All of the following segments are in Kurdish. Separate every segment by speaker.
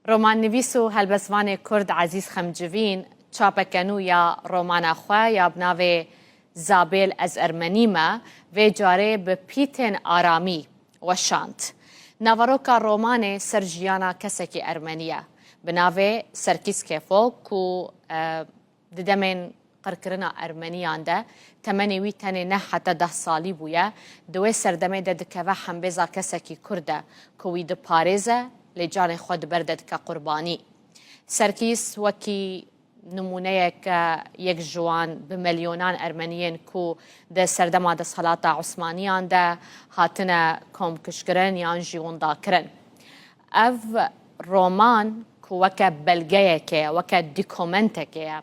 Speaker 1: Romannivîs û helbestvanê kurd Ezîz Xemcivîn çapeke nû ya romana xwe ya bi navê Zabêl ez Ermenî me vê carê bi pîtên aramî weşand. Naveroka romanê ser jiyana kesekî ermenî ye bi navê Serkîs Kefok ku Di demên qirkirina Ermeniyan de temenê wî tenê neh heta deh salî bûye. Di wê serdemê de dikeve hembêza kesekî Kurd de ku wî diparêze lê canê xwe di ber de dike qurbanî. Serkîs wekî nimûneyek e yek ji wan bi melyonan Ermeniyên ku di serdema desthelata Osmaniyan de hatine komkujkirin yan jî windakirin. Ev roman ku weke belgeyekê ye, weke dîkomentekê ye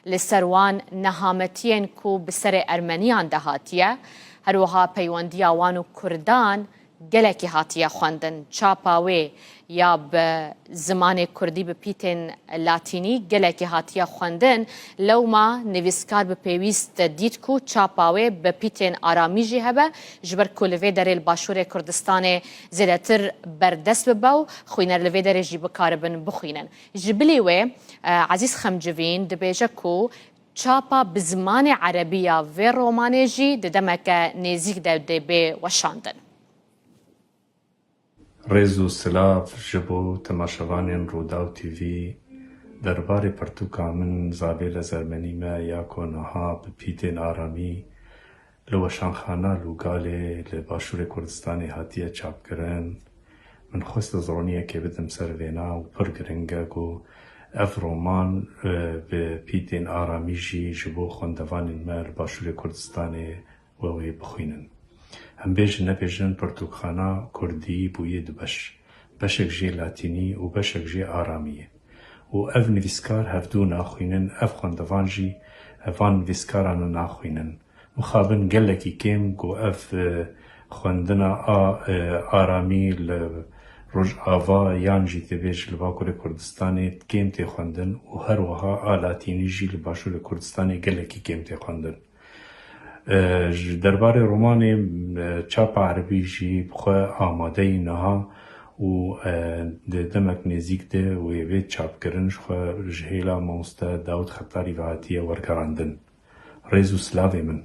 Speaker 1: li ser wan nehametiyên ku bi serê ermeniyan de hatiye, her wiha peywendiya wan û kurdan gelekî hatiye xwendin. Çapa wê ya bi zimanê kurdî bi pîtên latînî gelekî hatiye xwendin, lewma nivîskar bi pêwîst dît ku çapa wê bi pîtên aramî jî hebe, ji ber ku li vê derê li başûrê Kurdistanê zêdetir berdest bibe û xwîner li vê derê jî bikaribin bixwînin. Ji bilî wê Ezîz Xemcivîn dibêje ku çapa bi zimanê erebî ya vê romanê jî di demeke nêzîk de dê bê weşandin. Rêz û silav ji bo temaşevanên Rûdaw TV. Derbarê pirtûka min Zabêle Zermenî me ya ku niha bi pîtên aramî, Li weşanxana Lûgalê li Başûrê Kurdistanê hatiye çapkirin. Min xwest ez roniyekê bidim ser vêna û pir giring e ku ev roman bi pîtên aramî jî ji bo xwendevanên me li Başûrê Kurdistanê we wê bixwînin. Em bêjin nebêjin pirtûkxana kurdî bûye du beş. Beşek jê latînî û beşek jê aramî ye. û ev nivîskar hevdu naxwînin, ev xwendevan jî van nivîskaran naxwînin. Mixabin gelekî kêm ku ev xwendina a aramî li Rojava yan jî têbêj li Bakurê Kurdistanê kêm tê xwendin û her wiha a Latînî jî li Başûrê Kurdistanê gelekî kêm tê xwendin. Ji derbarê romanê çapa erebî jî bi xwe amade yî niha û di demek nêzîk de wê vê çapkirin ji xwe ji hêla mamoste Dawût Xetarî ve hatiye wergerandin. Rêz û silavê min.